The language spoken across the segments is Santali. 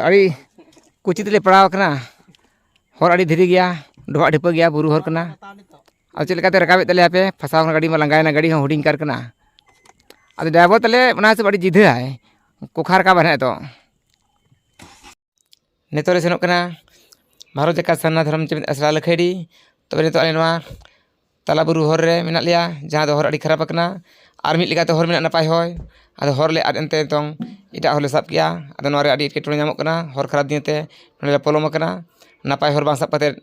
ᱟᱹᱰᱤ ᱠᱩᱪᱤ ᱛᱮᱞᱮ ᱯᱟᱲᱟᱣ ᱟᱠᱟᱱᱟ ᱦᱚᱨ ᱟᱹᱰᱤ ᱫᱷᱤᱨᱤ ᱜᱮᱭᱟ ᱰᱚᱵᱷᱟᱜ ᱰᱷᱤᱯᱟᱹ ᱜᱮᱭᱟ ᱵᱩᱨᱩ ᱦᱚᱨ ᱠᱟᱱᱟ ᱟᱫᱚ ᱪᱮᱫ ᱞᱮᱠᱟᱛᱮ ᱨᱟᱠᱟᱵᱮᱫ ᱛᱟᱞᱮᱭᱟ ᱯᱮ ᱯᱷᱟᱥᱟᱣ ᱠᱟᱱᱟ ᱜᱟᱹᱰᱤ ᱢᱟ ᱞᱟᱸᱜᱟᱭᱮᱱᱟ ᱜᱟᱹᱰᱤ ᱦᱚᱸ ᱦᱩᱰᱤᱧ ᱠᱟᱨ ᱠᱟᱱᱟ ᱟᱫᱚ ᱰᱨᱟᱭᱵᱷᱟᱨ ᱛᱟᱞᱮ ᱚᱱᱟ ᱦᱤᱥᱟᱹᱵ ᱟᱹᱰᱤ ᱡᱤᱫᱷᱟᱹᱭᱟᱭ ᱠᱚᱠᱷᱟ ᱨᱟᱠᱟᱵ ᱦᱮᱱᱟᱜ ᱛᱚ ᱱᱤᱛᱚᱜ ᱞᱮ ᱥᱮᱱᱚᱜ ᱠᱟᱱᱟ ᱵᱷᱟᱨᱚᱛ ᱡᱟᱠᱟᱛ ᱥᱟᱨᱱᱟ ᱫᱷᱚᱨᱚᱢ ᱪᱮᱢᱮᱫ ᱟᱥᱲᱟ ᱞᱟᱹᱠᱷᱟᱹᱭᱰᱤ ᱛᱚᱵᱮ ᱱᱤᱛᱚᱜ ᱟᱞᱮ ᱱᱚᱣᱟ ᱛᱟᱞᱟ ᱵᱩᱨᱩ ᱦᱚᱨ ᱨᱮ ᱢᱮᱱᱟᱜ ᱞᱮᱭᱟ ᱡᱟᱦᱟᱸ ᱫᱚ ᱦᱚᱨ ᱟᱹᱰᱤ ᱠᱷᱟᱨᱟᱯ ᱟᱠᱟᱱᱟ ᱟᱨ ᱢᱤᱫ ᱞᱮᱠᱟᱛᱮ ᱦᱚᱨ ᱢᱮᱱᱟᱜᱼᱟ ᱱᱟᱯᱟᱭ ᱦᱚᱨ ᱟᱫᱚ ᱦᱚᱨ ᱞᱮ ᱟᱫ ᱮᱱᱛᱮ ᱱᱤᱛᱚᱝ ᱮᱴᱟᱜ ᱦᱚᱨ ᱞᱮ ᱥᱟᱵ ᱠᱮᱫᱼᱟ ᱟᱫᱚ ᱱᱚᱣᱟᱨᱮ ᱟᱹᱰᱤ ᱮᱴᱠᱮᱴᱚᱬᱮ ᱧᱟᱢᱚᱜ ᱠᱟᱱᱟ ᱦᱚᱨ ᱠᱷᱟᱨᱟᱯ ᱫᱤᱭᱮ ᱛᱮ ᱱᱚᱸᱰᱮ ᱞᱮ ᱯᱚᱞᱚᱢ ᱟᱠᱟᱱᱟ ᱱᱟᱯᱟᱭ ᱦᱚᱨ ᱵᱟᱝ ᱥᱟᱵ ᱠᱟᱛᱮᱫ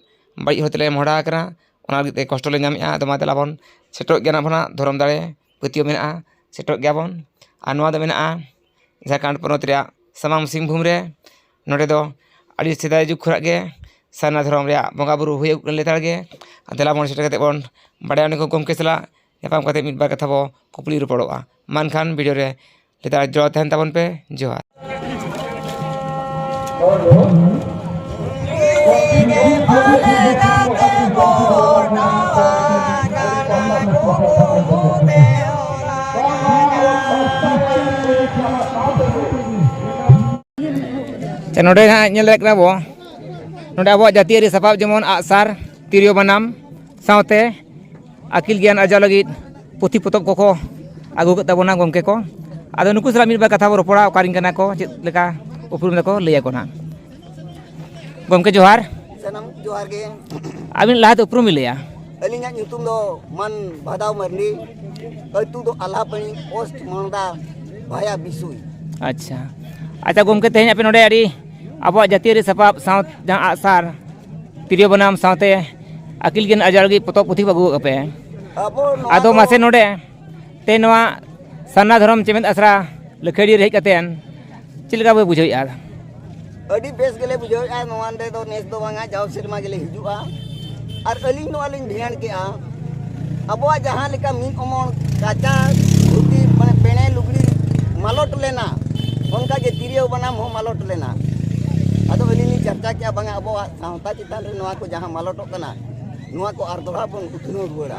ᱵᱟᱹᱲᱤᱡ ᱦᱚᱨ ᱛᱮᱞᱮ ᱢᱚᱦᱰᱟ ᱟᱠᱟᱱᱟ ᱚᱱᱟ ᱞᱟᱹᱜᱤᱫ ᱛᱮ ᱠᱚᱥᱴᱚ ᱞᱮ ᱧᱟᱢᱮᱫᱼᱟ ᱟᱫᱚ ᱢᱟ ᱫᱮᱞᱟ ᱵᱚᱱ ᱥᱮᱴᱮᱨᱚᱜ ᱜᱮᱭᱟ ᱱᱟᱵᱚᱱ ᱦᱟᱸᱜ ᱫᱷᱚᱨᱚᱢ ᱫᱟᱲᱮ ᱯᱟᱹᱛᱭᱟᱹᱣ ᱢᱮᱱᱟᱜᱼᱟ ᱥᱮᱴᱮᱨᱚᱜ ᱜᱮᱭᱟᱵᱚᱱ ᱟᱨ ᱱᱚᱣᱟ ᱫᱚ ᱢᱮᱱᱟᱜᱼᱟ ᱡᱷᱟᱲᱠᱷᱚᱸᱰ ᱯᱚᱱᱚᱛ ᱨᱮᱭᱟᱜ ᱥᱟᱢᱟᱝ ᱥᱤᱝᱵᱷᱩᱢ ᱨᱮ ᱱᱚᱸᱰᱮ ᱫᱚ ᱟᱹᱰᱤ ᱥᱮᱫᱟᱭ ᱡᱩᱜᱽ ᱠᱷᱚᱱᱟᱜ ᱜᱮ ᱥᱟᱨᱱᱟ ᱫᱷᱚᱨᱚᱢ ᱨᱮᱭᱟᱜ ᱵᱚᱸᱜᱟᱼᱵᱩᱨᱩ ᱦᱩᱭᱩᱜ ᱠᱟᱱᱟ ᱞᱮᱛᱟᱲ ᱜᱮ ᱟᱨ ᱫᱮᱞᱟ ᱵᱚᱱ ᱥᱮᱴᱮᱨ ᱠᱟᱛᱮᱫ ᱵᱚᱱ ᱵᱟᱲᱟᱭᱟ ᱩᱱᱤ ᱜᱚᱢᱠᱮ ᱥᱟᱞᱟᱜ ᱧᱟᱯᱟᱢ ᱠᱟᱛᱮᱫ ᱢᱤᱫ ᱵᱟᱨ ᱠᱟᱛᱷᱟ ᱵᱚᱱ ᱠᱩᱠᱞᱤ ᱨᱚᱯᱚᱲᱚᱜᱼᱟ ᱢᱟ ᱮᱱᱠᱷᱟᱱ ᱵᱷᱤᱰᱤᱭᱳ ᱨᱮ ᱞᱮᱛᱟᱲ ᱡᱚᱲᱟᱣ ᱛᱟᱦᱮᱱ ᱛᱟᱵᱚᱱ ᱯᱮ ᱡᱚᱦᱟᱨ ᱟᱪᱪᱷᱟ ᱱᱚᱰᱮ ᱦᱟᱸᱜ ᱧᱮᱞ ᱫᱟᱲᱮᱭᱟᱜ ᱠᱟᱱᱟ ᱵᱚ ᱱᱚᱰᱮ ᱟᱵᱚᱣᱟᱜ ᱡᱟᱹᱛᱤᱭᱟᱹᱨᱤ ᱥᱟᱯᱟᱵ ᱡᱮᱢᱚᱱ ᱟᱜᱼᱥᱟᱨ ᱛᱤᱨᱭᱳ ᱵᱟᱱᱟᱢ ᱥᱟᱶᱛᱮ ᱟᱹᱠᱤᱞ ᱜᱮᱭᱟᱱ ᱟᱨᱡᱟᱣ ᱞᱟᱹᱜᱤᱫ ᱯᱩᱛᱷᱤ ᱯᱚᱛᱚᱵ ᱠᱚᱠᱚ ᱟᱹᱜᱩ ᱠᱮᱫ ᱛᱟᱵᱚᱱᱟ ᱜᱚᱢᱠᱮ ᱠᱚ ᱟᱫᱚ ᱱᱩᱠᱩ ᱥᱟᱞᱟᱜ ᱢᱤᱫ ᱵᱟᱨ ᱠᱟᱛᱷᱟ ᱵᱚᱱ ᱨᱚᱯᱚᱲᱟ ᱚᱠᱟᱨᱮᱱ ᱠᱟᱱᱟ ᱠᱚ ᱪᱮᱫ ᱞᱮᱠᱟ ᱩᱯᱨᱩᱢ ᱫᱟᱠᱚ ᱞᱟᱹᱭ ᱟᱠᱚ ᱱᱟᱦᱟᱜ ᱜᱚᱢᱠᱮ ᱡᱚᱦᱟᱨ ᱥᱟᱱᱟᱢ ᱡᱚᱦᱟᱨ ᱜᱮ ᱟᱹᱵᱤᱱ ᱞᱟᱦᱟᱛᱮ ᱩᱯᱨᱩᱢ ᱵᱤᱱ ᱞᱟᱹᱭᱟ ᱟᱹᱞᱤᱧᱟᱜ ᱧᱩᱛᱩᱢ ᱫᱚ ᱢᱟᱱ ᱵᱷᱟᱫᱟᱣ ᱢᱟᱨᱱᱰᱤ ᱟᱹᱛᱩ ᱫᱚ ᱟᱞᱦᱟᱯᱟᱹᱱᱤ ᱯᱳᱥᱴ ᱢᱟᱞᱫᱟ ᱵᱷᱟᱭᱟ ᱵᱤᱥᱩᱭ ᱟᱪᱪᱷᱟ ᱟᱪᱪᱷᱟ ᱜᱚᱢᱠᱮ ᱛᱮᱦᱮᱧ ᱟᱯᱮ ᱱᱚᱰᱮ ᱟᱹᱰᱤ ᱟᱵᱚᱣᱟᱜ ᱡᱟᱹᱛᱤᱭᱟᱹᱨᱤ ᱥᱟᱯᱟᱵ ᱥᱟᱶ ᱡᱟᱦᱟᱸ ᱟᱜᱼᱥᱟᱨ ᱛᱤᱨᱭᱳ ᱵᱟᱱᱟᱢ ᱥᱟᱶᱛᱮ ᱟᱹᱠᱤᱞ ᱜᱮᱭᱟᱱ ᱟᱨᱡᱟᱣ ᱞᱟᱹᱜᱤᱫ ᱯᱚᱛᱚᱵ ᱯᱩᱛᱷᱤ ᱠᱚ ᱟᱹᱜᱩ ᱟᱠᱟᱫ ᱯᱮ ᱟᱵᱚ ᱱᱚᱣᱟ ᱟᱫᱚ ᱫᱚ- ᱢᱟᱥᱮ ᱱᱚᱰᱮ ᱛᱮ ᱱᱚᱣᱟ ᱥᱟᱨᱱᱟ ᱫᱷᱚᱨᱚᱢ ᱪᱮᱢᱮᱫ ᱟᱥᱲᱟ ᱞᱟᱹᱠᱷᱟᱹᱰᱤ ᱨᱮ ᱦᱮᱡ ᱠᱟᱛᱮ ᱪᱮᱫ ᱞᱮᱠᱟ ᱯᱮ ᱵᱩᱡᱷᱟᱹᱣᱮᱫᱼᱟ ᱟᱹᱰᱤ ᱵᱮᱥ ᱜᱮᱞᱮ ᱵᱩᱡᱷᱟᱹᱣᱮᱫᱼᱟ ᱱᱚᱣᱟ ᱱᱚᱰᱮ ᱫᱚ ᱱᱮᱥ ᱫᱚ ᱵᱟᱝᱟ ᱡᱟᱣ ᱥᱮᱨᱢᱟ ᱜᱮᱞᱮ ᱦᱤᱡᱩᱜᱼᱟ ᱟᱨ ᱟᱹᱞᱤᱧ ᱱᱚᱣᱟ ᱞᱤᱧ ᱫᱷᱮᱭᱟᱱ ᱠᱮᱜᱼᱟ ᱟᱵᱚᱣᱟᱜ ᱡᱟᱦᱟᱸ ᱞᱮᱠᱟ ᱢᱤᱫ ᱚᱢᱚᱱ ᱠᱟᱪᱟ ᱫᱷᱩᱛᱤ ᱢᱟᱱᱮ ᱯᱮᱬᱮ ᱞᱩᱜᱽᱲᱤ ᱢᱟᱞᱚᱴ ᱞᱮᱱᱟ ᱚᱱᱠᱟ ᱜᱮ ᱛᱤᱨᱭᱳ ᱵᱟᱱᱟᱢ ᱦᱚᱸ ᱢᱟᱞᱚᱴ ᱞᱮᱱᱟ ᱟᱫᱚ ᱟᱹᱞᱤᱧ ᱞᱤᱧ ᱪᱟᱨᱪᱟ ᱠᱮᱜᱼᱟ ᱵᱟᱝᱟ ᱟᱵᱚᱣᱟᱜ ᱥᱟᱶᱛᱟ ᱪᱮᱛᱟᱱ ᱨᱮ ᱱᱚᱣᱟ ᱠᱚ ᱡᱟᱦᱟᱸ ᱢᱟᱞᱚᱴᱚᱜ ᱠᱟᱱᱟ ᱱᱚᱣᱟ ᱠᱚ ᱟᱨ ᱫᱚᱦᱲᱟ ᱵᱚᱱ ᱩᱛᱱᱟᱹᱣ ᱨᱩᱣᱟᱹᱲᱟ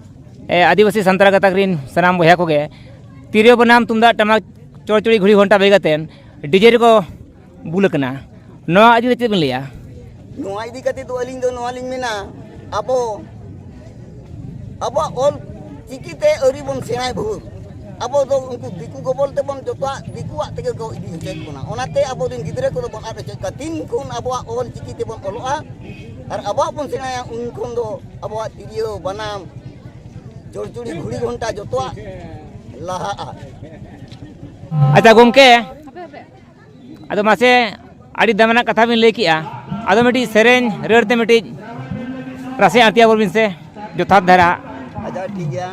ᱟᱹᱫᱤᱵᱟᱹᱥᱤ ᱥᱟᱱᱛᱟᱲ ᱜᱟᱛᱟᱠ ᱨᱮᱱ ᱥᱟᱱᱟᱢ ᱵᱚᱭᱦᱟ ᱠᱚᱜᱮ ᱛᱤᱨᱭᱳ ᱵᱟᱱᱟᱢ ᱛᱩᱢᱫᱟᱜ ᱴᱟᱢᱟᱠ ᱪᱚᱲᱪᱚᱲᱤ ᱜᱷᱩᱲᱤ ᱜᱷᱚᱱᱴᱟ ᱵᱟᱹᱜᱤ ᱠᱟᱛᱮ ᱰᱤᱡᱮ ᱨᱮᱠᱚ ᱵᱩᱞ ᱟᱠᱟᱱᱟ ᱱᱚᱣᱟ ᱤᱫᱤ ᱠᱟᱛᱮ ᱵᱤᱱ ᱞᱟᱹᱭᱟ ᱱᱚᱣᱟ ᱤᱫᱤ ᱠᱟᱛᱮ ᱫᱚ ᱟᱹᱞᱤᱧ ᱫᱚ ᱱᱚᱣᱟ ᱞᱤᱧ ᱢᱮᱱᱟ ᱟᱵᱚ ᱟᱵᱚᱣᱟᱜ ᱚᱞ ᱪᱤᱠᱤᱛᱮ ᱟᱹᱣᱨᱤ ᱵᱚᱱ ᱥᱮᱬᱟᱭ ᱵᱷᱳᱨ ᱟᱵᱚ ᱫᱚ ᱩᱱᱠᱩ ᱫᱤᱠᱩ ᱜᱚᱵᱚᱞ ᱛᱮᱵᱚᱱ ᱡᱚᱛᱚᱣᱟᱜ ᱫᱤᱠᱩᱣᱟᱜ ᱛᱮᱜᱮ ᱠᱚ ᱤᱫᱤ ᱦᱚᱪᱚᱭᱮᱫ ᱵᱚᱱᱟ ᱚᱱᱟᱛᱮ ᱟᱵᱚ ᱨᱮᱱ ᱜᱤᱫᱽᱨᱟᱹ ᱠᱚᱫᱚ ᱵᱚᱱ ᱟᱫ ᱦᱚᱪᱚᱭᱮᱫ ᱠᱚᱣᱟ ᱛᱤᱱ ᱠᱷᱚᱱ ᱟᱵᱚᱣᱟᱜ ᱚᱞ ᱪᱤᱠᱤ ᱛᱮᱵᱚᱱ ᱚᱞᱚᱜᱼᱟ ᱟᱨ ᱟᱵᱚᱣᱟᱜ ᱵᱚᱱ ᱥᱮᱬᱟᱭᱟ ᱩᱱ ᱠᱷᱚᱱ ᱫᱚ ᱟᱵᱚᱣᱟᱜ ᱛᱤᱨᱭᱳ ᱵᱟᱱᱟᱢ ᱡᱚᱲᱪᱩᱲᱤ ᱜᱷᱩᱲᱤ ᱜᱷᱚᱱᱴᱟ ᱡᱚᱛᱚᱣᱟᱜ ᱞᱟᱦᱟᱜᱼᱟ ᱟᱪᱪᱷᱟ ᱜᱚᱢᱠᱮ ᱟᱫᱚ ᱢᱟᱥᱮ ᱟᱹᱰᱤ ᱫᱟᱢᱟᱱᱟᱜ ᱠᱟᱛᱷᱟ ᱵᱤᱱ ᱞᱟᱹᱭ ᱠᱮᱜᱼᱟ ᱟᱫᱚ ᱢᱤᱫᱴᱤᱡ ᱥᱮᱨᱮᱧ ᱨᱟᱹᱲ ᱛᱮ ᱢᱤᱫᱴᱤᱡ ᱨᱟᱥᱮ ᱟᱹᱬᱛᱤ ᱟᱵᱚᱱ ᱵᱤᱱ ᱥᱮ ᱡᱚᱛᱷᱟᱛ ᱫᱷᱟᱨᱟ ᱟᱪᱪᱷᱟ ᱴᱷᱤᱠ ᱜᱮᱭᱟ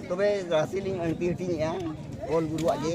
ᱛᱚᱵᱮ ᱨᱟᱥᱮ ᱞᱤᱧ ᱟᱹᱬᱛᱤ ᱦᱟᱹᱴᱤᱧᱮᱜᱼᱟ ᱚᱞ ᱜᱩᱨᱩᱣᱟᱜ ᱜᱮ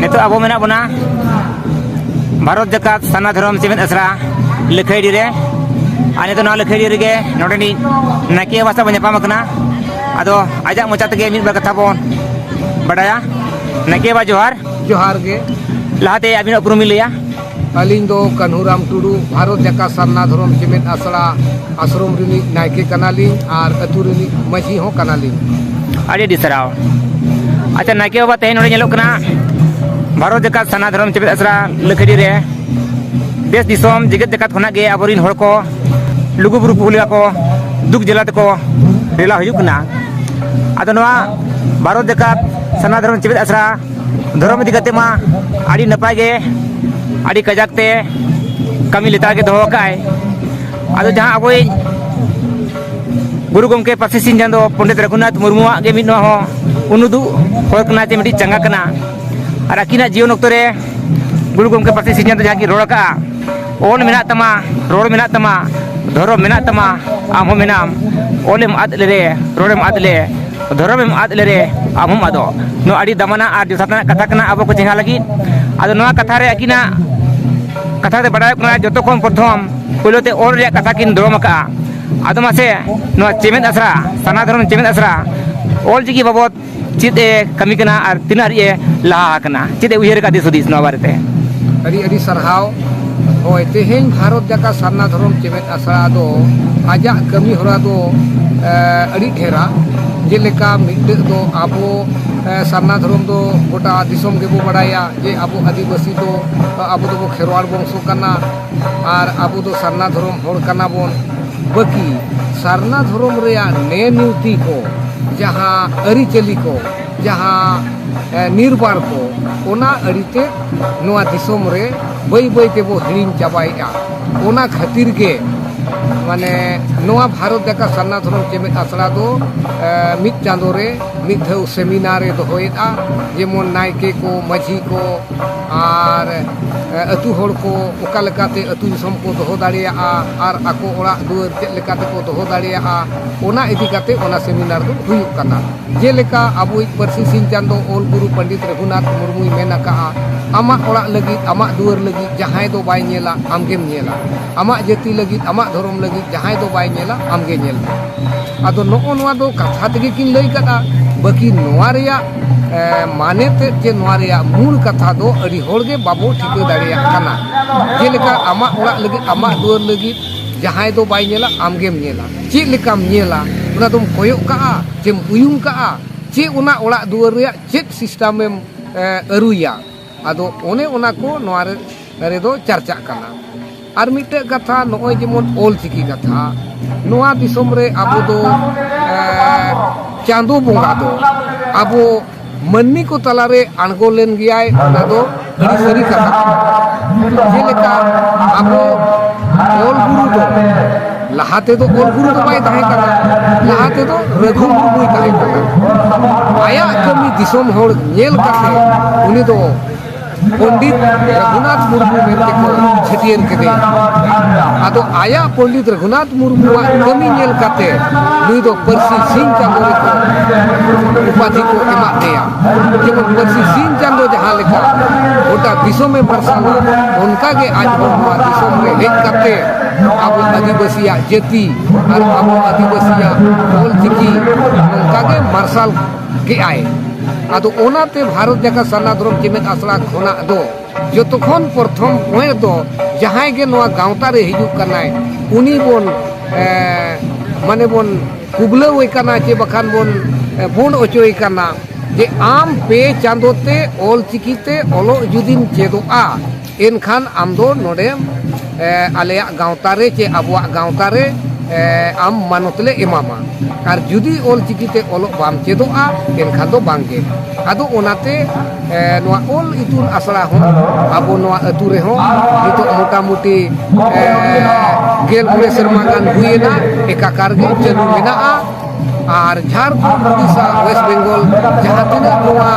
ᱱᱤᱛᱚᱜ ᱟᱵᱚ ᱢᱮᱱᱟᱜ ᱵᱚᱱᱟ ᱵᱷᱟᱨᱚᱛ ᱡᱟᱠᱟᱛ ᱥᱟᱨᱱᱟ ᱫᱷᱚᱨᱚᱢ ᱪᱮᱢᱮᱫ ᱟᱥᱲᱟ ᱞᱟᱹᱠᱷᱟᱹᱭᱰᱤ ᱨᱮ ᱟᱨ ᱱᱤᱛᱚᱜ ᱱᱚᱣᱟ ᱞᱟᱹᱠᱷᱟᱹᱭᱰᱤ ᱨᱮᱜᱮ ᱱᱚᱰᱮᱱᱤᱡ ᱱᱟᱭᱠᱮ ᱵᱟᱵᱟ ᱥᱟᱶ ᱵᱚᱱ ᱧᱟᱯᱟᱢ ᱟᱠᱟᱱᱟ ᱟᱫᱚ ᱟᱡᱟᱜ ᱢᱚᱪᱟ ᱛᱮᱜᱮ ᱢᱤᱫ ᱵᱟᱨ ᱠᱟᱛᱷᱟ ᱵᱚᱱ ᱵᱟᱰᱟᱭᱟ ᱱᱟᱭᱠᱮ ᱵᱟᱵᱟ ᱡᱚᱦᱟᱨ ᱡᱚᱦᱟᱨ ᱜᱮ ᱞᱟᱦᱟᱛᱮ ᱟᱹᱵᱤᱱᱟᱜ ᱩᱯᱨᱩᱢ ᱵᱤᱱ ᱞᱟᱹᱭᱟ ᱟᱹᱞᱤᱧ ᱫᱚ ᱠᱟᱹᱱᱦᱩᱨᱟᱢ ᱴᱩᱰᱩ ᱵᱷᱟᱨᱚᱛ ᱡᱟᱠᱟᱛ ᱥᱟᱨᱱᱟ ᱫᱷᱚᱨᱚᱢ ᱪᱮᱢᱮᱫ ᱟᱥᱲᱟ ᱟᱥᱨᱚᱢ ᱨᱤᱱᱤᱡ ᱱᱟᱭᱠᱮ ᱠᱟᱱᱟᱞᱤᱧ ᱟᱨ ᱟᱹᱛᱩ ᱨᱤᱱᱤᱡ ᱢᱟᱹᱡᱷᱤ ᱦᱚᱸ ᱠᱟᱱᱟᱞᱤᱧ ᱟᱹᱰᱤ ᱟᱹᱰᱤ ᱥᱟᱨᱦᱟᱣ ᱟᱪᱪᱷᱟ ᱱᱟᱭᱠᱮ ᱵᱟᱵᱟ ᱛᱮᱦᱮᱧ ᱱᱚᱰᱮ ᱧᱮᱞᱚᱜ ᱠᱟᱱᱟ ᱵᱷᱟᱨᱚᱛ ᱡᱟᱠᱟᱛ ᱥᱟᱨᱱᱟ ᱫᱷᱚᱨᱚᱢ ᱪᱮᱢᱮᱫ ᱟᱥᱲᱟ ᱞᱟᱹᱠᱷᱟᱹᱰᱤ ᱨᱮ ᱫᱮᱥ ᱫᱤᱥᱚᱢ ᱡᱮᱜᱮᱛ ᱡᱟᱠᱟᱛ ᱠᱷᱚᱱᱟᱜ ᱜᱮ ᱟᱵᱚᱨᱤᱱ ᱦᱚᱲ ᱠᱚ ᱞᱩᱜᱩᱵᱩᱨᱩ ᱯᱩᱦᱩᱞᱤᱭᱟ ᱠᱚ ᱫᱩᱠ ᱡᱮᱞᱟ ᱛᱮᱠᱚ ᱨᱮᱞᱟ ᱦᱩᱭᱩᱜ ᱠᱟᱱᱟ ᱟᱫᱚ ᱱᱚᱣᱟ ᱵᱷᱟᱨᱚᱛ ᱡᱟᱠᱟᱛ ᱥᱟᱨᱱᱟ ᱫᱷᱚᱨᱚᱢ ᱪᱮᱢᱮᱫ ᱟᱥᱲᱟ ᱫᱷᱚᱨᱚᱢ ᱤᱫᱤ ᱠᱟᱛᱮ ᱢᱟ ᱟᱹᱰᱤ ᱱᱟᱯᱟᱭ ᱜᱮ ᱟᱹᱰᱤ ᱠᱟᱡᱟᱠ ᱛᱮ ᱠᱟᱹᱢᱤ ᱞᱮᱛᱟᱲ ᱜᱮ ᱫᱚᱦᱚ ᱟᱠᱟᱫ ᱟᱭ ᱟᱫᱚ ᱡᱟᱦᱟᱸ ᱟᱵᱚᱭᱤᱡ ᱜᱩᱨᱩ ᱜᱚᱢᱠᱮ ᱯᱟᱹᱨᱥᱤ ᱥᱤᱧ ᱪᱟᱸᱫᱚ ᱯᱚᱱᱰᱤᱛ ᱨᱟᱹᱜᱷᱩᱱᱟᱛᱷ ᱢᱩᱨᱢᱩᱣᱟᱜ ᱜᱮ ᱢᱤᱫ ᱱᱚᱣᱟ ᱦᱚᱸ ᱩᱱᱩᱫᱩᱜ ᱦᱚᱲ ᱠᱟᱱᱟ ᱡᱮ ᱢᱤᱫᱴᱤᱡ ᱪᱟᱸᱜᱟ ᱠᱟᱱᱟ ᱟᱨ ᱟᱹᱠᱤᱱᱟᱜ ᱡᱤᱭᱚᱱ ᱚᱠᱛᱚ ᱨᱮ ᱜᱩᱨᱩ ᱜᱚᱢᱠᱮ ᱯᱟᱹᱨᱥᱤ ᱥᱤᱧ ᱪᱟᱸᱫᱚ ᱡᱟᱦᱟᱸ ᱠᱤᱱ ᱨᱚᱲ ᱟᱠᱟᱫᱼᱟ ᱚᱞ ᱢᱮᱱᱟᱜ ᱛᱟᱢᱟ ᱨᱚᱲ ᱢᱮᱱᱟᱜ ᱛᱟᱢᱟ ᱫᱷᱚᱨᱚᱢ ᱢᱮᱱᱟᱜ ᱛᱟᱢᱟ ᱟᱢ ᱦᱚᱸ ᱢᱮᱱᱟᱢ ᱚᱞᱮᱢ ᱟᱫ ᱞᱮᱨᱮ ᱨᱚᱲᱮᱢ ᱟᱫ ᱞᱮ ᱫᱷᱚᱨᱚᱢᱮᱢ ᱟᱫ ᱞᱮᱨᱮ ᱟᱢ ᱦᱚᱸᱢ ᱟᱫᱚᱜ ᱱᱚᱣᱟ ᱟᱹᱰᱤ ᱫᱟᱢᱟᱱᱟ ᱟᱨ ᱡᱚᱛᱷᱟᱛᱟᱱᱟᱜ ᱠᱟᱛᱷᱟ ᱠᱟᱱᱟ ᱟᱵᱚ ᱠᱚ ᱪᱮᱸᱜᱷᱟ ᱞᱟᱹᱜᱤᱫ ᱟᱫᱚ ᱱᱚᱣᱟ ᱠᱟᱛᱷᱟ ᱨᱮ ᱟᱹᱠᱤᱱᱟᱜ ᱠᱟᱛᱷᱟ ᱛᱮ ᱵᱟᱰᱟᱭᱚᱜ ᱠᱟᱱᱟ ᱡᱚᱛᱚ ᱠᱷᱚᱱ ᱯᱨᱚᱛᱷᱚᱢ ᱯᱳᱭᱞᱳ ᱛᱮ ᱚᱞ ᱨᱮᱭᱟᱜ ᱠᱟᱛᱷᱟ ᱠᱤᱱ ᱫᱚᱲᱚᱢ ᱟᱠᱟᱫᱼᱟ ᱟᱫᱚ ᱢᱟᱥᱮ ᱱᱚᱣᱟ ᱪᱮᱢᱮᱫ ᱟᱥᱲᱟ ᱥᱟᱨᱱᱟ ᱫᱷᱚᱨᱚᱢ ᱪᱮᱢᱮᱫ ᱟᱥᱲᱟ ᱚᱞ ᱪᱤᱠᱤ ᱵᱟᱵᱚᱫ ᱪᱮᱫ ᱮ ᱠᱟᱹᱢᱤ ᱠᱟᱱᱟ ᱟᱨ ᱛᱤᱱᱟᱹᱜ ᱦᱟᱹᱨᱤᱡ ᱮ ᱞᱟᱦᱟ ᱟᱠᱟᱱᱟ ᱪᱮᱫ ᱮ ᱩᱭᱦᱟᱹᱨ ᱟᱠᱟᱫ ᱫᱤᱥ ᱦᱩᱫᱤᱥ ᱱᱚᱣᱟ ᱵᱟᱨᱮᱛᱮ ᱟᱹᱰᱤ ᱟᱹᱰᱤ ᱥᱟᱨᱦᱟᱣ ᱦᱳᱭ ᱛᱮᱦᱮᱧ ᱵᱷᱟᱨᱚᱛ ᱡᱟᱠᱟ ᱥᱟᱨᱱᱟ ᱫᱷᱚᱨᱚᱢ ᱪᱮᱢᱮᱫ ᱟᱥᱲᱟ ᱫᱚ ᱟᱡᱟᱜ ᱠᱟᱹᱢᱤ ᱦᱚᱨᱟ ᱫᱚ ᱟᱹᱰᱤ ᱰᱷᱮᱨᱟ ᱡᱮᱞᱮᱠᱟ ᱢᱤᱫᱴᱟᱹᱜ ᱫᱚ ᱟᱵᱚ ᱥᱟᱨᱱᱟ ᱫᱷᱚᱨᱚᱢ ᱫᱚ ᱜᱚᱴᱟ ᱫᱤᱥᱚᱢ ᱜᱮᱵᱚ ᱵᱟᱲᱟᱭᱟ ᱡᱮ ᱟᱵᱚ ᱟᱹᱫᱤᱵᱟᱹᱥᱤ ᱫᱚ ᱟᱵᱚ ᱫᱚᱵᱚ ᱠᱷᱮᱨᱣᱟᱲ ᱵᱚᱝᱥᱚ ᱠᱟᱱᱟ ᱟᱨ ᱟᱵᱚ ᱫᱚ ᱥᱟᱨᱱᱟ ᱫᱷᱚᱨᱚᱢ ᱦᱚᱲ ᱠᱟᱱᱟ ᱵᱚᱱ ᱵᱟᱹᱠᱤ ᱥᱟᱨᱱᱟ ᱫᱷᱚᱨᱚᱢ ᱨᱮᱭᱟᱜ ᱱᱮ ᱱᱤᱭᱩᱛᱤ ᱠᱚ ᱡᱟᱦᱟᱸ ᱟᱹᱨᱤᱪᱟᱹᱞᱤ ᱠᱚ ᱡᱟᱦᱟᱸ ᱱᱤᱨᱵᱟᱨ ᱠᱚ ᱚᱱᱟ ᱟᱹᱲᱤᱛᱮ ᱱᱚᱣᱟ ᱫᱤᱥᱚᱢ ᱨᱮ ᱵᱟᱹᱭ ᱵᱟᱹᱭ ᱛᱮᱵᱚ ᱦᱤᱲᱤᱧ ᱪᱟᱵᱟᱭᱮᱫᱼᱟ ᱚᱱᱟ ᱠᱷᱟᱹᱛᱤᱨ ᱜᱮ ᱢᱟᱱᱮ ᱱᱚᱣᱟ ᱵᱷᱟᱨᱚᱛ ᱡᱟᱠᱟᱛ ᱥᱟᱨᱱᱟ ᱫᱷᱚᱨᱚᱢ ᱪᱮᱢᱮᱫ ᱟᱥᱲᱟ ᱫᱚ ᱢᱤᱫ ᱪᱟᱸᱫᱳ ᱨᱮ ᱢᱤᱫ ᱫᱷᱟᱣ ᱥᱮᱢᱤᱱᱟᱨᱮ ᱫᱚᱦᱚᱭᱮᱫᱼᱟ ᱡᱮᱢᱚᱱ ᱱᱟᱭᱠᱮ ᱠᱚ ᱢᱟᱹᱡᱷᱤ ᱠᱚ ᱟᱨ ᱟᱹᱛᱩ ᱦᱚᱲ ᱠᱚ ᱚᱠᱟ ᱞᱮᱠᱟᱛᱮ ᱟᱹᱛᱩ ᱫᱤᱥᱚᱢ ᱠᱚ ᱫᱚᱦᱚ ᱫᱟᱲᱮᱭᱟᱜᱼᱟ ᱟᱨ ᱟᱠᱚ ᱚᱲᱟᱜ ᱫᱩᱣᱟᱹᱨ ᱪᱮᱫ ᱞᱮᱠᱟ ᱛᱮᱠᱚ ᱫᱚᱦᱚ ᱫᱟᱲᱮᱭᱟᱜᱼᱟ ᱚᱱᱟ ᱤᱫᱤ ᱠᱟᱛᱮ ᱚᱱᱟ ᱥᱮᱢᱤᱱᱟᱨ ᱫᱚ ᱦᱩᱭᱩᱜ ᱠᱟᱱᱟ ᱡᱮᱞᱮᱠᱟ ᱟᱵᱚᱭᱤᱡ ᱯᱟᱹᱨᱥᱤ ᱥᱤᱧ ᱪᱟᱸᱫᱚ ᱚᱞ ᱜᱩᱨᱩ ᱯᱚᱱᱰᱤᱛ ᱨᱚᱜᱷᱩᱱᱟᱛᱷ ᱢᱩᱨᱢᱩᱭ ᱢᱮᱱ ᱟᱠᱟᱫᱼᱟ ᱟᱢᱟᱜ ᱚᱲᱟᱜ ᱞᱟᱹᱜᱤᱫ ᱟᱢᱟᱜ ᱫᱩᱣᱟᱹᱨ ᱞᱟᱹᱜᱤᱫ ᱡᱟᱦᱟᱸᱭ ᱫᱚ ᱵᱟᱭ ᱧᱮᱞᱟ ᱟᱢᱜᱮᱢ ᱧᱮᱞᱟ ᱟᱢᱟᱜ ᱡᱟᱹᱛᱤ ᱞᱟᱹᱜᱤᱫ ᱟᱢᱟᱜ ᱫᱷᱚᱨᱚᱢ ᱞᱟᱹᱜᱤᱫ ᱡᱟᱦᱟᱸᱭ ᱫᱚ ᱵᱟᱭ ᱧᱮᱞᱟ ᱟᱢ ᱜᱮ ᱧᱮᱞ ᱢᱮ ᱟᱫᱚ ᱱᱚᱜᱼᱚ ᱱᱚᱣᱟ ᱫᱚ ᱠᱟᱛᱷᱟ ᱛᱮᱜᱮ ᱠᱤᱱ ᱞᱟᱹᱭ ᱠᱟᱫᱟ ᱵᱟᱹᱠᱤ ᱱᱚᱣᱟ ᱨᱮᱭᱟᱜ ᱢᱟᱱᱮ ᱛᱮᱫ ᱡᱮ ᱱᱚᱣᱟ ᱨᱮᱭᱟᱜ ᱢᱩᱞ ᱠᱟᱛᱷᱟ ᱫᱚ ᱟᱹᱰᱤ ᱦᱚᱲ ᱜᱮ ᱵᱟᱵᱚ ᱴᱷᱤᱠᱟᱹ ᱫᱟᱲᱮᱭᱟᱜ ᱠᱟᱱᱟ ᱡᱮᱞᱮᱠᱟ ᱟᱢᱟᱜ ᱚᱲᱟᱜ ᱞᱟᱹᱜᱤᱫ ᱟᱢᱟᱜ ᱫᱩᱣᱟᱹᱨ ᱞᱟᱹᱜᱤᱫ ᱡᱟᱦᱟᱸᱭ ᱫᱚ ᱵᱟᱭ ᱧᱮᱞᱟ ᱟᱢ ᱜᱮᱢ ᱧᱮᱞᱟ ᱪᱮᱫ ᱞᱮᱠᱟᱢ ᱧᱮᱞᱟ ᱚᱱᱟ ᱫᱚᱢ ᱠᱚᱭᱚᱜ ᱠᱟᱜᱼᱟ ᱪᱮᱢ ᱩᱭᱩᱝ ᱠᱟᱜᱼᱟ ᱪᱮᱫ ᱚᱱᱟ ᱚᱲᱟᱜ ᱫᱩᱣᱟᱹᱨ ᱨᱮᱭᱟᱜ ᱪᱮᱫ ᱥᱤᱥᱴᱮᱢᱮᱢ ᱟᱹᱨᱩᱭᱟ ᱟᱫᱚ ᱚᱱᱮ ᱚᱱᱟ ᱠᱚ ᱱᱚᱣᱟ ᱨᱮᱫᱚ ᱪᱟᱨᱪᱟᱜ ᱠᱟᱱᱟ ᱟᱨ ᱢᱤᱫᱴᱮᱡ ᱠᱟᱛᱷᱟ ᱱᱚᱜᱼᱚᱭ ᱡᱮᱢᱚᱱ ᱚᱞ ᱪᱤᱠᱤ ᱠᱟᱛᱷᱟ ᱱᱚᱣᱟ ᱫᱤᱥᱚᱢ ᱨᱮ ᱟᱵᱚ ᱫᱚ ᱪᱟᱸᱫᱚ ᱵᱚᱸᱜᱟ ᱫᱚ ᱟᱵᱚ ᱢᱟᱹᱱᱢᱤ ᱠᱚ ᱛᱟᱞᱟᱨᱮ ᱟᱬᱜᱚ ᱞᱮᱱ ᱜᱮᱭᱟᱭ ᱚᱱᱟ ᱫᱚ ᱟᱹᱰᱤ ᱥᱟᱹᱨᱤ ᱠᱟᱛᱷᱟ ᱡᱮᱞᱮᱠᱟ ᱟᱵᱚ ᱚᱞ ᱜᱩᱨᱩ ᱫᱚ ᱞᱟᱦᱟ ᱛᱮᱫᱚ ᱚᱞ ᱜᱩᱨᱩ ᱫᱚ ᱵᱟᱭ ᱛᱟᱦᱮᱸ ᱠᱟᱱᱟ ᱞᱟᱦᱟ ᱛᱮᱫᱚ ᱨᱟᱹᱜᱷᱩ ᱢᱩᱨᱢᱩᱭ ᱛᱟᱦᱮᱸ ᱠᱟᱱᱟ ᱟᱭᱟᱜ ᱠᱟᱹᱢᱤ ᱫᱤᱥᱚᱢ ᱦᱚᱲ ᱧᱮᱞ ᱠᱟᱛᱮ ᱩᱱᱤ ᱫᱚ ᱯᱚᱱᱰᱤᱛ ᱨᱟᱹᱜᱷᱩᱱᱟᱛᱷ ᱢᱩᱨᱢᱩ ᱢᱮᱱᱛᱮ ᱠᱚ ᱪᱷᱟᱹᱴᱭᱟᱹᱨ ᱠᱮᱫᱮᱭᱟ ᱟᱫᱚ ᱟᱭᱟᱜ ᱯᱚᱱᱰᱤᱛ ᱨᱟᱹᱜᱷᱩᱱᱟᱛᱷ ᱢᱩᱨᱢᱩᱣᱟᱜ ᱠᱟᱹᱢᱤ ᱧᱮᱞ ᱠᱟᱛᱮ ᱱᱩᱭ ᱫᱚ ᱯᱟᱹᱨᱥᱤ ᱥᱤᱧ ᱪᱟᱸᱫᱚ ᱨᱮᱠᱚ ᱩᱯᱟᱫᱷᱤ ᱠᱚ ᱮᱢᱟᱜ ᱞᱮᱭᱟ ᱡᱮᱢᱚᱱ ᱯᱟᱹᱨᱥᱤ ᱥᱤᱧ ᱪᱟᱸᱫᱚ ᱡᱟᱦᱟᱸ ᱞᱮᱠᱟ ᱜᱚᱴᱟ ᱫᱤᱥᱚᱢᱮ ᱢᱟᱨᱥᱟᱞᱟ ᱚᱱᱠᱟᱜᱮ ᱟᱡ ᱦᱚᱸ ᱱᱚᱣᱟ ᱫᱤᱥᱚᱢ ᱨᱮ ᱦᱮᱡ ᱠᱟᱛᱮ ᱟᱵᱚ ᱟᱹᱫᱤᱵᱟᱹᱥᱤᱭᱟᱜ ᱡᱟᱹᱛᱤ ᱟᱨ ᱟᱵᱚ ᱟᱹᱫᱤᱵᱟᱹᱥᱤᱭᱟᱜ ᱚᱞ ᱪᱤᱠᱤ ᱱᱚᱝᱠᱟᱜᱮ ᱢᱟᱨᱥᱟᱞ ᱠᱮᱜᱼᱟᱭ ᱟᱫᱚ ᱚᱱᱟᱛᱮ ᱵᱷᱟᱨᱚᱛ ᱡᱟᱠᱟᱛ ᱥᱟᱨᱱᱟ ᱫᱷᱚᱨᱚᱢ ᱪᱮᱢᱮᱫ ᱟᱥᱲᱟ ᱠᱷᱚᱱᱟᱜ ᱫᱚ ᱡᱚᱛᱚ ᱠᱷᱚᱱ ᱯᱨᱚᱛᱷᱚᱢ ᱯᱚᱭᱮᱱᱴ ᱫᱚ ᱡᱟᱦᱟᱸᱭ ᱜᱮ ᱱᱚᱣᱟ ᱜᱟᱶᱛᱟ ᱨᱮ ᱦᱤᱡᱩᱜ ᱠᱟᱱᱟᱭ ᱩᱱᱤ ᱵᱚᱱ ᱢᱟᱱᱮ ᱵᱚᱱ ᱠᱩᱵᱞᱟᱹᱣᱮ ᱠᱟᱱᱟ ᱪᱮ ᱵᱟᱠᱷᱟᱱ ᱵᱚᱱ ᱵᱚᱱ ᱚᱪᱚᱭᱮ ᱠᱟᱱᱟ ᱡᱮ ᱟᱢ ᱯᱮ ᱪᱟᱸᱫᱚ ᱛᱮ ᱚᱞ ᱪᱤᱠᱤ ᱛᱮ ᱚᱞᱚᱜ ᱡᱩᱫᱤᱢ ᱪᱮᱫᱚᱜᱼᱟ ᱮᱱᱠᱷᱟᱱ ᱟᱢ ᱫᱚ ᱱᱚᱰᱮ ᱟᱞᱮᱭᱟᱜ ᱜᱟᱶᱛᱟ ᱨᱮ ᱪᱮ ᱟᱵᱚᱣᱟᱜ ᱜᱟᱶᱛᱟ ᱨᱮ ᱟᱢ ᱢᱟᱱᱚᱛ ᱞᱮ ᱮᱢᱟᱢᱟ ᱟᱨ ᱡᱩᱫᱤ ᱚᱞ ᱪᱤᱠᱤ ᱛᱮ ᱚᱞᱚᱜ ᱵᱟᱢ ᱪᱮᱫᱚᱜᱼᱟ ᱮᱱᱠᱷᱟᱱ ᱫᱚ ᱵᱟᱝ ᱜᱮ ᱟᱫᱚ ᱚᱱᱟᱛᱮ ᱱᱚᱣᱟ ᱚᱞ ᱤᱛᱩᱱ ᱟᱥᱲᱟ ᱦᱚᱸ ᱟᱵᱚ ᱱᱚᱣᱟ ᱟᱹᱛᱩ ᱨᱮᱦᱚᱸ ᱱᱤᱛᱚᱜ ᱢᱚᱴᱟᱢᱩᱴᱤ ᱜᱮᱞ ᱢᱚᱬᱮ ᱥᱮᱨᱢᱟ ᱜᱟᱱ ᱦᱩᱭᱮᱱᱟ ᱮᱠᱟᱠᱟᱨ ᱜᱮ ᱪᱟᱹᱞᱩ ᱢᱮᱱᱟᱜᱼᱟ ᱟᱨ ᱡᱷᱟᱲᱠᱷᱚᱸᱰ ᱳᱰᱤᱥᱟ ᱳᱭᱮᱥᱴ ᱵᱮᱝᱜᱚᱞ ᱡᱟᱦᱟᱸ ᱛᱤᱱᱟᱹᱜ ᱱᱚᱣᱟ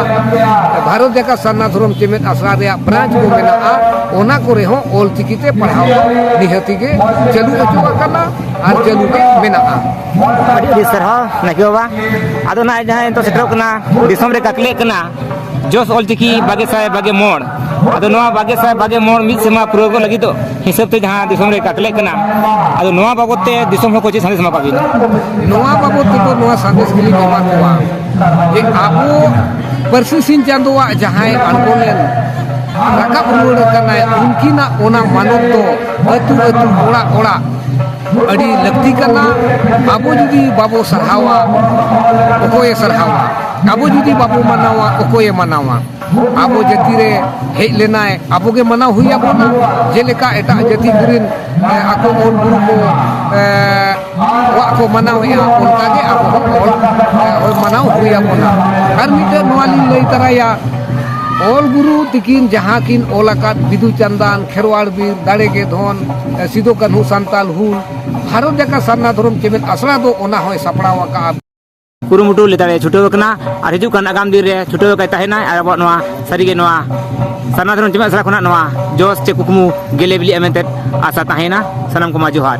ᱵᱷᱟᱨᱚᱛ ᱡᱟᱠᱟᱛ ᱥᱟᱨᱱᱟ ᱫᱷᱚᱨᱚᱢ ᱪᱮᱢᱮᱫ ᱟᱥᱲᱟ ᱨᱮᱭᱟᱜ ᱵᱨᱟᱸᱪ ᱠᱚ ᱢᱮᱱᱟᱜᱼᱟ ᱚᱱᱟ ᱠᱚᱨᱮ ᱦᱚᱸ ᱚᱞ ᱪᱤᱠᱤ ᱛᱮ ᱯᱟᱲᱦᱟᱣ ᱱᱤᱦᱟᱹᱛᱤ ᱜᱮ ᱪᱟᱹᱞᱩ ᱦᱚᱪᱚ ᱟᱠᱟᱱᱟ ᱟᱨ ᱪᱟᱹᱞᱩ ᱜᱮ ᱢᱮᱱᱟᱜᱼᱟ ᱟᱹᱰᱤ ᱟᱹᱰᱤ ᱥᱟᱨᱦᱟᱣ ᱱᱟᱭᱠᱮ ᱵᱟᱵᱟ ᱟᱫᱚ ᱱᱟᱦᱟᱜ ᱡᱟᱦᱟᱸ ᱱᱤᱛᱚᱜ ᱥᱮᱴᱮᱨᱚᱜ ᱠᱟᱱᱟ ᱫᱤᱥᱚᱢ ᱨᱮ ᱜᱟᱛᱞᱮᱜ ᱠᱟᱱᱟ ᱡᱚᱥ ᱚᱞ ᱪᱤᱠᱤ ᱵᱟᱜᱮ ᱥᱟᱭ ᱵᱟᱜᱮ ᱢᱚᱬ ᱟᱫᱚ ᱱᱚᱣᱟ ᱵᱟᱜᱮ ᱥᱟᱭ ᱵᱟᱜᱮ ᱢᱚᱬ ᱢᱤᱫ ᱥᱮᱨᱢᱟ ᱯᱩᱨᱟᱹᱣ ᱠᱚ ᱞᱟᱹᱜᱤᱫ ᱫᱚ ᱦᱤᱥᱟᱹᱵ ᱛᱮ ᱡᱟᱦᱟᱸ ᱫᱤᱥᱚᱢ ᱨᱮ ᱠᱟᱛᱞᱮᱜ ᱠᱟᱱᱟ ᱟᱫᱚ ᱱᱚᱣᱟ ᱵᱟᱵᱚᱛ ᱛᱮ ᱫᱤᱥᱚᱢ ᱦᱚᱲ ᱠᱚ ᱪᱮᱫ ᱥᱟᱸᱫᱮᱥ ᱮᱢᱟ ᱠᱟᱜ ᱵᱤᱱ ᱱᱚᱣᱟ ᱵᱟᱵᱚᱛ ᱛᱮᱫᱚ ᱱᱚᱣᱟ ᱥᱟᱸᱫᱮᱥ ᱜᱮᱞᱤᱧ ᱮᱢᱟ ᱠᱚᱣᱟ ᱡᱮ ᱟᱵᱚ ᱯᱟᱹᱨᱥᱤ ᱥᱤᱧ ᱪᱟᱸᱫᱳᱣᱟᱜ ᱡᱟᱦᱟᱸᱭ ᱟᱬᱜᱚ ᱞᱮᱱ ᱨᱟᱠᱟᱵ ᱨᱩᱣᱟᱹᱲ ᱟᱠᱟᱱᱟᱭ ᱩᱱᱠᱤᱱᱟᱜ ᱚᱱᱟ ᱢᱟᱱᱚᱛ ᱫᱚ ᱟᱹᱛᱩ ᱟᱹᱛᱩ ᱚᱲᱟᱜ ᱚᱲᱟᱜ ᱟᱹᱰᱤ ᱞᱟᱹᱠᱛᱤ ᱠᱟᱱᱟ ᱟᱵᱚ ᱡᱩᱫᱤ ᱵᱟᱵᱚ ᱥᱟᱨᱦᱟᱣᱟ ᱚᱠᱚᱭᱮ ᱥᱟᱨᱦᱟᱣᱟ ᱟᱵᱚ ᱡᱩᱫᱤ ᱵᱟᱵᱚ ᱢᱟᱱᱟᱣᱟ ᱚᱠᱚᱭᱮ ᱢᱟᱱᱟᱣᱟ ᱟᱵᱚ ᱡᱟᱹᱛᱤ ᱨᱮ ᱦᱮᱡ ᱞᱮᱱᱟᱭ ᱟᱵᱚ ᱜᱮ ᱢᱟᱱᱟᱣ ᱦᱩᱭ ᱟᱵᱚᱱᱟ ᱡᱮᱞᱮᱠᱟ ᱮᱴᱟᱜ ᱡᱟᱹᱛᱤ ᱠᱚᱨᱮᱱ ᱟᱠᱚ ᱚᱞ ᱜᱩᱨᱩ ᱠᱚ ᱣᱟᱜ ᱠᱚ ᱢᱟᱱᱟᱣᱮᱜᱼᱟ ᱚᱱᱠᱟ ᱜᱮ ᱟᱵᱚ ᱦᱚᱸ ᱚᱞ ᱢᱟᱱᱟᱣ ᱦᱩᱭ ᱟᱵᱚᱱᱟ ᱟᱨ ᱢᱤᱫᱴᱮᱱ ᱱᱚᱣᱟ ᱞᱤᱧ ᱞᱟᱹᱭ ᱛᱟᱨᱟᱭᱟ ᱚᱞ ᱜᱩᱨᱩ ᱛᱤᱠᱤᱱ ᱡᱟᱦᱟᱸ ᱠᱤᱱ ᱚᱞ ᱟᱠᱟᱫ ᱵᱤᱫᱩ ᱪᱟᱸᱫᱟᱱ ᱠᱷᱮᱨᱣᱟᱲ ᱵᱤᱨ ᱫᱟᱲᱮ ᱜᱮ ᱫᱷᱚᱱ ᱥᱤᱫᱩ ᱠᱟᱹᱱᱦᱩ ᱥᱟᱱᱛᱟᱞ ᱦᱩᱞ ᱵᱷᱟᱨᱚᱛ ᱡᱟᱠᱟᱛ ᱥᱟᱨᱱᱟ ᱫᱷᱚᱨᱚᱢ ᱪᱮᱢᱮᱫ ᱟᱥᱲᱟ ᱫᱚ ᱚᱱᱟ ᱦᱚᱸᱭ ᱥᱟᱯᱲᱟᱣ ᱟᱠᱟᱫᱼᱟ ᱠᱩᱨᱩᱢᱩᱴᱩ ᱞᱮᱛᱟᱲᱮ ᱪᱷᱩᱴᱟᱹᱣ ᱟᱠᱟᱱᱟ ᱟᱨ ᱦᱤᱡᱩᱜ ᱠᱟᱱ ᱟᱜᱟᱢ ᱫᱤᱱ ᱨᱮ ᱪᱷᱩᱴᱟᱹᱣ ᱟᱠᱟᱭ ᱛᱟᱦᱮᱱᱟ ᱟᱨ ᱟᱵᱚᱣᱟᱜ ᱱᱚᱣᱟ ᱥᱟᱹᱨᱤᱜᱮ ᱱᱚᱣᱟ ᱥᱟᱨᱱᱟ ᱫᱷᱚᱨᱚᱢ ᱡᱮᱢᱮᱫ ᱟᱥᱲᱟ ᱠᱷᱚᱱᱟᱜ ᱱᱚᱣᱟ ᱡᱚᱥ ᱪᱮ ᱠᱩᱠᱢᱩ ᱜᱮᱞᱮ ᱵᱤᱞᱤᱜᱼᱟ ᱢᱮᱱᱛᱮ ᱟᱥᱟ ᱛᱟᱦᱮᱱᱟ ᱥᱟᱱᱟᱢ ᱠᱚᱢᱟ ᱡᱚᱦᱟᱨ